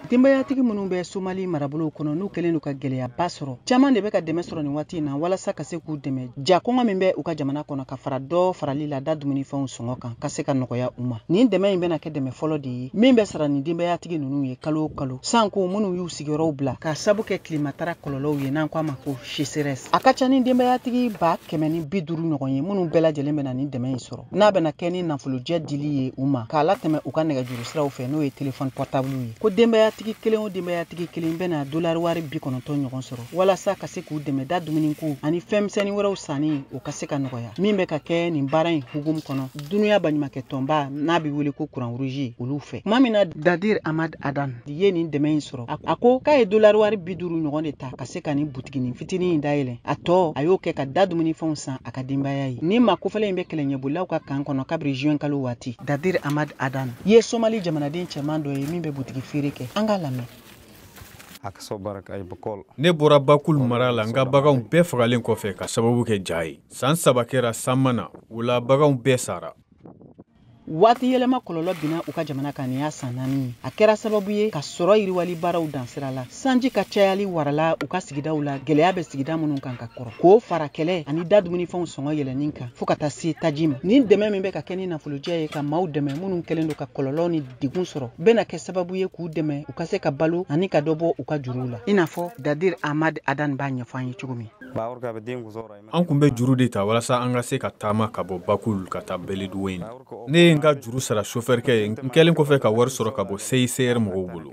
denbayatigi minnu bɛ somali marabolow kɔnɔ n'u kɛlen don ka gɛlɛyaba sɔrɔ caman de bɛ ka dɛmɛ sɔrɔ nin waati in na walasa ka se k'u dɛmɛ ja kɔngɔ min bɛ u ka jamana kɔnɔ ka fara dɔ farali la da dumunifɛnw sɔngɔ kan ka se ka nɔgɔya u ma nin dɛmɛ in bɛna kɛ dɛmɛ fɔlɔ de ye min bɛ sara nin denbayatigi ninnu ye kalo o kalo sanko minnu y'u sigiyɔrɔw bila ka sabu kɛ tilematara kɔlɔlɔw ye n'an ko a ma ko Sécheresse a ka ca ni denbayatigi ba kɛmɛ ni bi duuru ɲɔgɔn ye minnu bɛɛ lajɛlen bɛna nin dɛmɛ in sɔrɔ n'a bɛna kɛ ni nafolojɛ dili ye u ma k'a latɛmɛ u ka nɛgɛjuru siraw fɛ n'o ye telefɔni pɔrtabulu ye ko denbayatigi kelen o denbayatigi kelen bɛna dolari wari bi kɔnɔntɔn ɲɔgɔn sɔrɔ walasa ka se k'u dɛmɛ da dumuniko ani fɛnmisɛnnin wɛrɛw sanni o ka se ka nɔgɔya min bɛ ka kɛ nin baara in hugumu kɔnɔ dunuya baɲumakɛ tɔnba n'a bɛ wele ko croix rouge olu fɛ tuma min na dadir ahmad adan ye nin dɛmɛ in sɔrɔ a ko k'a ye dolari wari bi duuru ɲɔgɔn de ta ka se ka nin butiginin fitinin in dayɛlɛ a tɔ a y'o kɛ ka da dumunifɛnw san a ka denbaya ye nin maa kofɔlen in bɛ kɛlɛɲɛbolilaw ka kan kɔnɔ kabiri juin kalo waati dadir ahmad adan ye somali jamanaden cɛman dɔ ye min bɛ butigi feere kɛ an k'a lamɛn ne bɔra bakul mara la n ka baganw bɛɛ fagalen kɔfɛ ka sababu kɛ ja ye saan saba kɛra san ma na o la baganw bɛɛ sara waati yɛlɛma kɔlɔlɔ binna u ka jamana kan nin y'a san naani ye a kɛra sababu ye ka sɔrɔ yiriwali baaraw dan sira la sanji ka cayali warala u ka sigidaw la gɛlɛya bɛ sigida minnu kan ka kɔrɔ k'o fara kɛlɛ ani da dumunifɛnw sɔngɔ yɛlɛnni kan fɔɔ ka taa se taji ma nin dɛmɛ min bɛ ka kɛ ni nafolojɛ ye ka maaw dɛmɛ minnu kɛlen don ka kɔlɔlɔ ni degun sɔrɔ bɛna kɛ sababu ye k'u dɛmɛ u ka se ka balo ani ka dɔ bɔ u ka juruw la i n'a fɔ dadir ahmad adan b'a ɲɛfɔ an ye cogo min An kun bɛ juru de ta walasa an ka se ka taama ka bɔ Bakul ka taa Beledweyne. Ne ye n ka juru sara sofɛrikɛ ye, n kɛlen kɔfɛ ka wari sɔrɔ ka bɔ CICR mɔgɔw bolo.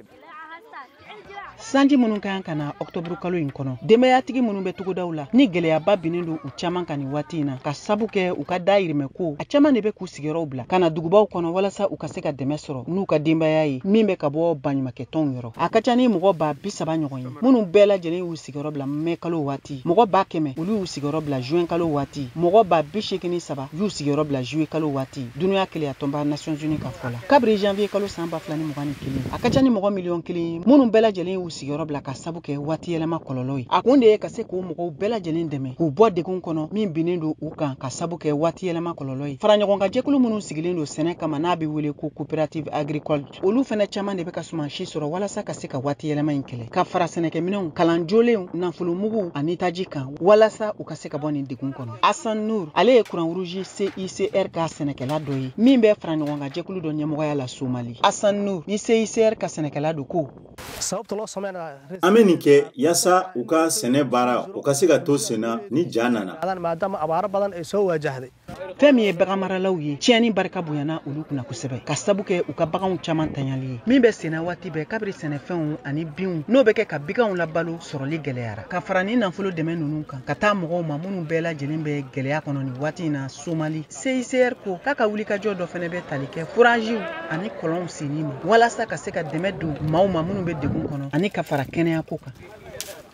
Sanji minnu ka kan ka na ɔkutɔburukalo in kɔnɔ, denbayatigi minnu bɛ togodaw la, ni gɛlɛyaba binnen don u caman kan nin waati in na, ka sabu kɛ u ka dayirimɛ ko, a caman de bɛ k'u sigiyɔrɔw bila ka na dugubaw kɔnɔ walasa u ka se ka dɛmɛ sɔrɔ n'u ka denbaya ye min bɛ ka bɔ baɲumakɛtɔnw yɔrɔ. A ka ca ni mɔgɔ baa bisaba ɲɔgɔn ye minnu bɛɛ lajɛlen y'u sigiyɔrɔ bila mɛ kalo waati mɔgɔ ba kɛmɛ olu y'u sigiyɔrɔ bila juin kalo waati mɔgɔ ba bi seegin ni saba y'u sigiyɔrɔ bila juillet kalo waati dunuya kelenya tɔnba nations unies ka fɔ la kabiri janvier kalo san ba fila ni mugan ni kelen a ka ca ni mɔgɔ miliyɔn kelen ye minnu bɛɛ lajɛlen y'u sigiyɔrɔ bila ka sabu kɛ waati yɛlɛma kɔlɔlɔ ye a kun de ye ka se k'o mɔgɔw bɛɛ lajɛlen dɛmɛ k'u bɔ degun kɔnɔ min binnen don u kan ka sabu kɛ waati yɛlɛma kɔlɔlɔ ye faraɲɔgɔnkan jɛkulu minnu sigilen don sɛnɛ kama n'a bɛ wele ko coopérative agricole olu fɛnɛ caman de bɛ ka sumansi sɔrɔ walasa ka se ka waati yɛlɛma in kɛlɛ ka fara sɛnɛkɛminɛnw kalan jolenw nafolomugu ani taji kan walasa u ka se ka bɔ nin degun kɔnɔ hassan nur ale ye croix rouge cicr ka sɛnɛkɛla dɔ ye min bɛ faraɲɔgɔnkan jɛkulu dɔ ɲɛmɔgɔya la somali hassan nur ni cicr ka sɛnɛkɛla don ko an bɛ nin kɛ yaasa u ka sɛnɛ baara o ka se ka to senna ni ja nana fɛn min ye bagan maralaw ye tiɲɛni barika bonyana olu kunna kosɛbɛ k'a sabu kɛ u ka baganw caman tanyali ye min bɛ senna waati bɛɛ kabiri sɛnɛfɛnw ani binw n'o bɛ kɛ ka biganw labalo sɔrɔli gɛlɛyara ka fara nin nafolo dɛmɛ ninnu kan ka taa mɔgɔw ma minnu bɛɛ lajɛlen bɛ gɛlɛya kɔnɔ nin waati in na somali cicr ko k'a ka wulikajɔ dɔ fɛnɛ bɛ tali kɛ foraziw ani kɔlɔnw senni ma walasa ka se ka dɛmɛ don maaw ma minnu bɛ degun kɔnɔ ani ka fara kɛnɛyako kan